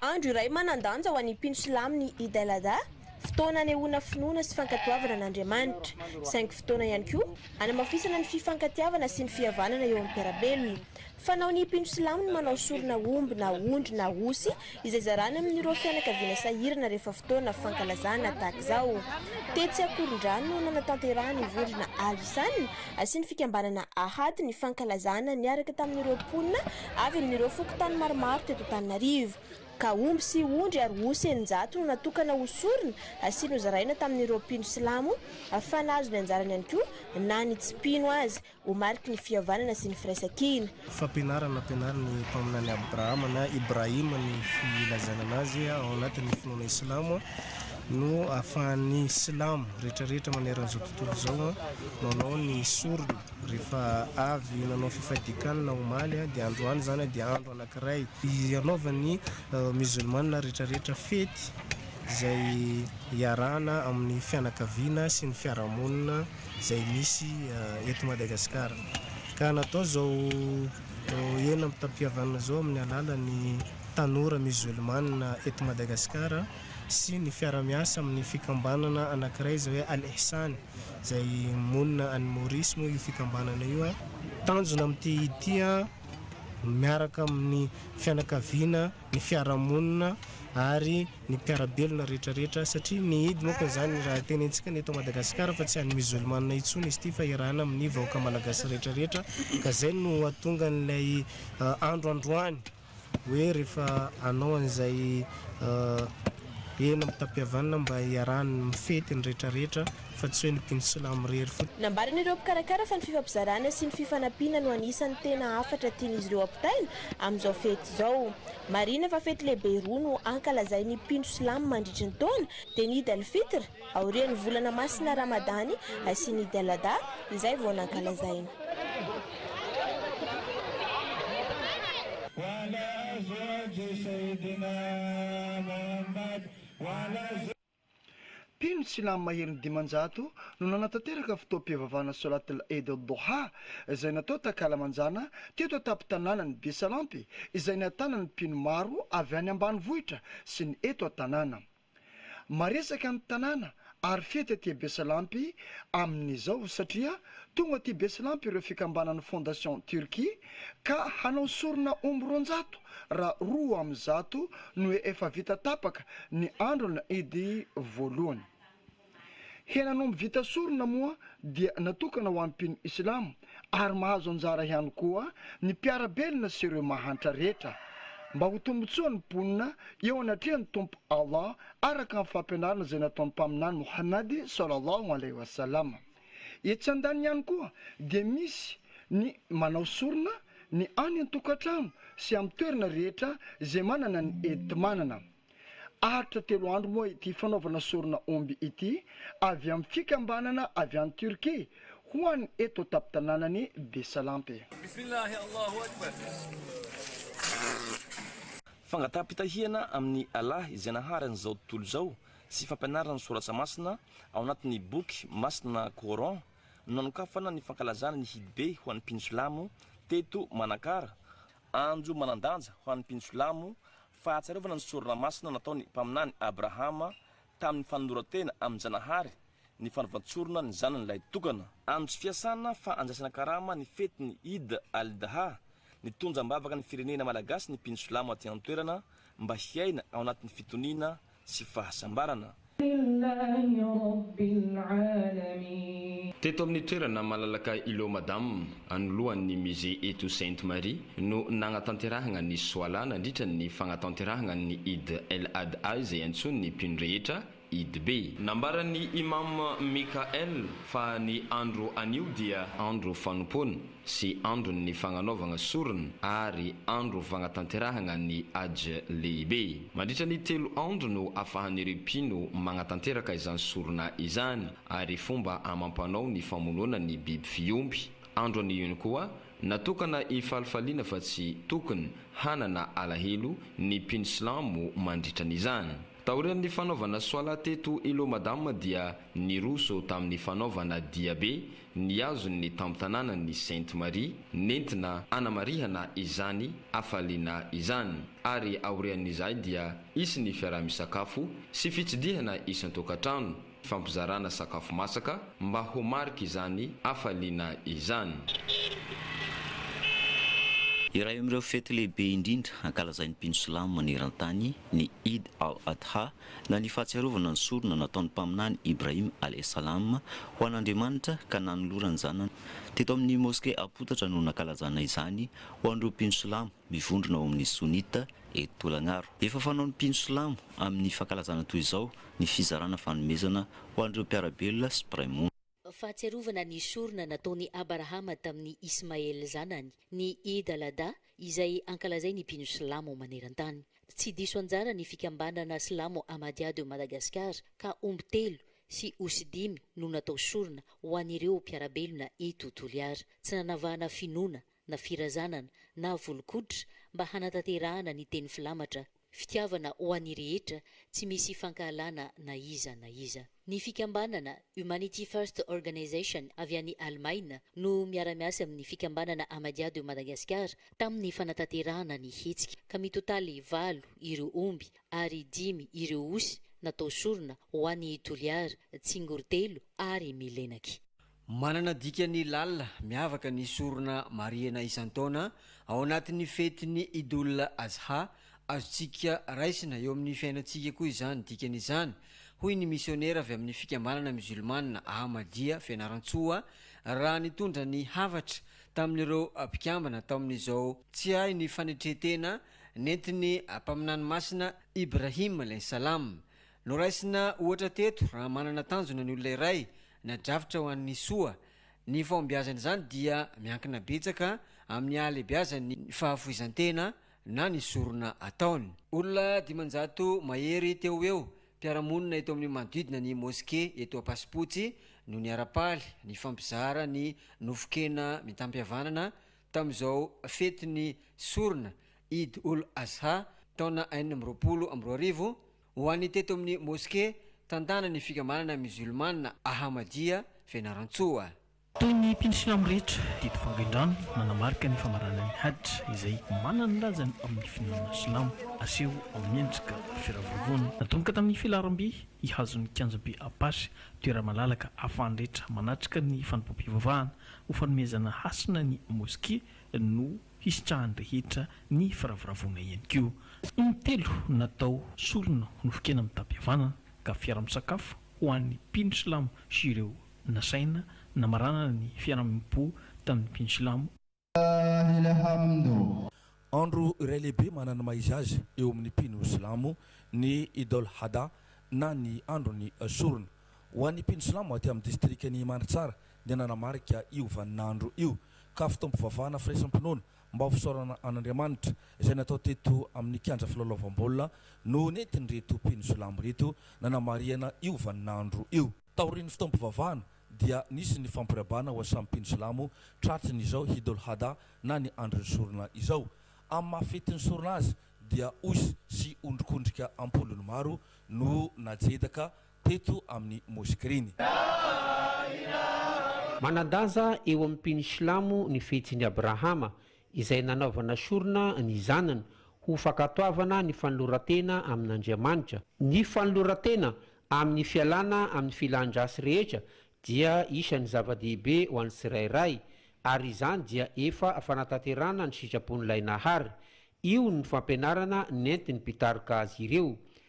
Andro iray manan-danja ho an'ny mpino silamo ny Eid al-Adha, fotoana anehoana finoana sy fankatoavana an'Andriamanitra, saingy fotoana ihany koa hanamafisana ny fifankatiavana sy ny fihavanana eo amin'ny mpiara-belona. Fanaon'ny mpino silamo ny manao sorona omby na ondry na osy izay zarany amin'ireo fianakaviana sahirana rehefa fotoana fankalazana tahaka izao. Tetsy Ankorondrano no nanatanterahan'ny vondrona Al-Ihsan sy ny fikambanana Ahad ny fankalazana niaraka tamin'ireo mponina Avy amin'ireo fokontany maromaro teto Antananarivo, ka omby sy ondry ary osy eninjato no natokana ho sorona sy nozaraina tamin'ireo mpino silamo fa nahazo ny anjarany ihany koa na ny tsy mpino aza ho mariky ny fihavanana sy ny firaisankina. Fampianarana ampianarin'ny Mpaminany Abrahama na Ibrahim ny filazana anazy ao anatin'ny finoana Islamo no ahafahan'ny Silamo rehetrarehetra maneran'izao tontolo izao manao ny sorona. Rehefa avy nanao fifadian-kanina omaly dia androany izany dia andro anankiray hanaovan'ny Miozolmana rehetrarehetra fety izay iarahana amin'ny fianakaviana sy ny fiarahamonina izay misy eto Madagasikara. Ka natao izao hena mitam-pihavanana izao amin'ny alalan'ny tanora Miozolmana eto Madagasikara sy ny fiara-miasa amin'ny fikambanana anankiray izay hoe Al Ihsan. izay monina any Maurice moa io fikambanana io a. Tanjona amin'ity ity a, miaraka amin'ny fianakaviana, ny fiarahamonina ary ny mpiara-belona rehetra rehetra satria ny Idy moa ka izany raha tenentsika ny eto Madagasikara fa tsy an'ny musulmana intsony izy ity fa iarahana amin'ny vahoaka malagasy rehetra rehetra ka izay no hahatonga an'ilay andro androany. hoe rehefa hanao an'izay hena mitam-pihavanana mba hiarahany mifety ny rehetra rehetra fa tsy hoe ny mpino silamo irery fotsiny. Nambaran'ireo mpikarakara fa ny fifampizarana sy ny fifanampiana no anisan'ny tena hafatra tian'izy ireo ampitaina amin'izao fety izao. Marihina fa fety lehibe roa no ankalazain'ny mpino silamo mandritry ny taona dia ny Eid al-Fitr, Aorian'ny volana masina Ramadany sy ny Eid al-Adha izay vao nankalazaina. Mpino silamo maherin'ny dimanjato no nanatanteraka fotoam-pivavahana Solat al-Eid al-Doha izay natao takalamanjana teto an-tampon-tanànan'i Besalampy izay nahatànan'ny mpino maro avy any ambanivohitra sy ny eto an-tanàna. Maresaka ny tanàna ary fety aty Besalampy amin'izao satria tonga aty Besalampy ireo fikambanan'ny Fondation Turquie ka hanao sorona omby roanjato raha roa amin'ny zato no efa vita tapaka ny andron'ny Idy voalohany. Henan'omby vita sorona moa dia natokana ho an'ny mpino Islamo ary mahazo anjara ihany koa ny mpiara-belona sy ireo mahantra rehetra, mba ho tombontsoan'ny mponina eo anatrehan'ny Tompo Allah, araka ny fampianarana izay nataon'ny Mpaminany Mohamady sallallahu alaihi wa sallam. Etsy andaniny ihany koa dia misy ny manao sorona ny any an-tokantrano sy amin'ny toerana rehetra izay manana ny enti-manana. Aritra telo andro moa ity fanaovana sorona omby ity avy amin'ny fikambanana avy any Turquie ho an'ny eto an-tampon-tanànan'i Besalampy. Bismillahi Allahu Akbar. Fangataham-pitahihana amin'i Allah izay nahary an'izao tontolo izao sy fampianarana ny Soratra Masina ao anatin'ny Boky Masina Coran no nanokafana ny fankalazana ny Hidbe ho an'ny mpino silamo teto Manakara, andro manan-danja ho an'ny mpino silamo Fahatsiarovana ny sorona masina nataon'ny Mpaminany Abrahama tamin'ny fanoloran-tena amin-janahary ny fanaovan-tsorona ny zanany lahy tokana. Andro tsy fiasana fa andraisana karama ny fetin'ny Eid al-Adha, nitonja am-bavaka ny firenena malagasy ny mpino silamo aty an-toerana mba hiaina ao anatin'ny fitoniana sy fahasambarana. Teto amin'ny toerana malalaka Îlot Madame, anoloan'ny Musée Etou Sainte Marie, no nagnatanterahagna ny Soalah nandritra ny fagnatanterahagna ny Eid El Adha izay antsoin'ny mpino rehetra Eid Be. Nambaran'ny Imâm Mikael fa ny andro anio dia. Andro fanompoana. sy andron'ny fagnanaovagna sorona ary andro fagnatanterahagna ny Hajj lehibe. Mandritra ny telo andro no afahan'ireo mpino magnatanteraka izany sorona izany, ary fomba amam-panao ny famonoana ny biby fiompy. Andro an'iony koa natokana hifalifaliana fa tsy tokony hanana alahelo ny mpino silamo mandritran'izany. Taorian'ny fanaovana Swalat eto Ilomadama dia niroso tamin'ny fanaovana diabe ny hazony ny tampon-tanànan' ny Sainte Marie nentina hanamarihana izany hafaliana izany, ary aorian' izay dia hisy ny fiaraha-misakafo sy fitsidihana isan-tokantrano, fifampizarana sakafo masaka mba ho mariky izany hafaliana izany. Iray amin' ireo fety lehibe indrindra ankalazain' ny mpino silamo maneran-tany ny Eid al-Adha, na ny fahatsiarovana ny sorona nataon'ny Mpaminany Ibrahim alaih salam ho an'Andriamanitra ka nanolorany zanany. Teto amin'ny Moske Ampotatra no nankalazana izany ho an'ireo mpino silamo mivondrona ao amin'ny Sunnite eto Tolagnaro. Efa fanaon'ny mpino silamo amin'ny fankalazana toy izao ny fizarana fanomezana ho an'ireo mpiara-belona sy mpiray monina. Fahatsiarovana ny sorona nataon'i Abarahama tamin'i Ismael zanany, ny Eid al-Adha, izay ankalazain'ny mpino silamo maneran-tany. Tsy diso anjara ny fikambanana silamo Ahmadiyya de Madagascar ka omby telo sy osy dimy no natao sorona ho an'ireo mpiara-belona eto Toliara. Tsy nanavahana finoana na firazanana, na volon-koditra, mba hanatanterahana ny teny filamatra, fitiavana ho an'ny rehetra, tsy misy fankahalana na iza na iza. Ny fikambanana Humanity First Organization avy any Alemaina no miara-miasa amin'ny fikambanana Ahmadiyya de Madagascar tamin'ny fanatanterahana ny hetsika, ka mitotaly valo ireo omby ary dimy ireo osy natao sorona ho an'i Toliara, Tsingorotelo ary Milenaky. Manana dikany lalina miavaka ny sorona marihina isan-taona ao anatin'ny fetin'ny Idoul Azha, azontsika raisina eo amin'ny fiainantsika koa izany dikany izany, hoy ny misionera avy amin'ny fikambanana Musulmana Ahmadiyya Fianarantsoa, raha nitondra ny hafatra tamin'ireo mpikambana tao amin'izao tsiahin'ny fanetre-tena nentin'ny Mpaminany Masina Ibrahim alaihis-salam Noraisina ohatra teto, raha manana tanjona ny olona iray, na drafitra ho an'ny soa, ny fahombiazan'izany dia miankina betsaka amin'ny hahalehibiazan'ny fahafoizan-tena na ny sorona ataony. Olona dimanjato mahery teo ho eo, mpiara-monina eto amin'ny manodidina ny Moske eto Ampasipotsy no niara-paly nifampizara ny nofon-kena mitam-pihavanana tamin'izao fetin'ny sorona Eid-ul-Azha taona enina amby roapolo amby roa arivo, Ho an'ny teto amin'ny Moske tantanan'ny fikambanana Musulmana Ahmadiyya Fianarantsoa. Toy ny mpino silamo rehetra, didy fangain-drano manamarika ny famaranan'ny Hajj izay manana ny lazany amin'ny finoana silamo, aseho amin'ny endrika firavoravoana. Natomboka tamin'ny filaharam-by hihazo ny kianjam-by Apache, toerana malalaka ahafahan'ny rehetra manatrika ny fanompoam-pivavahana, ho fanomezana hasina ny Moske no hisitrahan'ny rehetra ny firavoravoana ihany koa. Intelo natao solona ho nofon-kena mitam-pihavanana ka fiara-misakafo ho an'ny mpino silamo sy ireo nasaina namaranana ny fiaraha-miompo tamin'ny mpino silamo. Andro iray lehibe manana ny maha izy azy eo amin'ny mpino silamo ny Eid al-Adha na ny andron'ny sorona. Ho an'ny mpino silamo aty amin'ny distrikan'i Mandritsara dia nanamarika io vaninandro io ka fotoam-pivavahana firaisam-pinoana mba ho fisaorana an'Andriamanitra izay natao teto amin'ny kianja filalaovam-baolina no nentin'ireto mpino silamo ireto nanamarihana io vaninandro io. Taorian'ny fotoam-pivavahana dia nisy ny fampirabana ho an'ny samy mpino silamo tratry ny izao Hidul Hadha na ny andron'ny sorona izao. Amin'ny maha fetin'ny sorona azy dia osy sy ondrikondrika am-polony maro no najedaka teto amin'ny Moskrini. Manan-daza eo amin'ny mpino silamo ny fihetsiny Abrahama izay nanaovana sorona ny zanany ho fankatoavana ny fanoloran-tena amin'Andriamanitra. Ny fanoloran-tena amin'ny fialana amin'ny filan-dratsy rehetra dia isan'ny zava-dehibe ho an'ny tsirairay, ary izany dia efa fanatanterahana ny sitrapon'Ilay Nahary. Io no fampianarana nentin'ny mpitaroka azy ireo.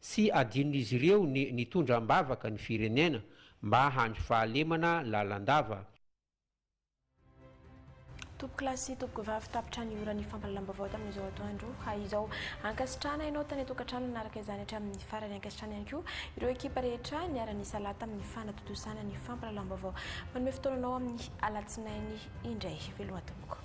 Tsy adinon'izy ireo ny nitondra am-bavaka ny firenena mba handry fahalemana lalandava. Tompokolahy sy tompokovavy tapitra ny ora ny fampahalalam-baovao tamin'izao atoandro izao. Ankasitrahana ianao tany an-tokantrano nanaraka izany hatramin'ny farany. Ankasitrahana ihany koa ireo ekipa rehetra niara-nisalahy tamin'ny fanatontosana ny fampahalalam-baovao. Manome fotoana anao amin'ny alatsinainy indray ve loha tompoko.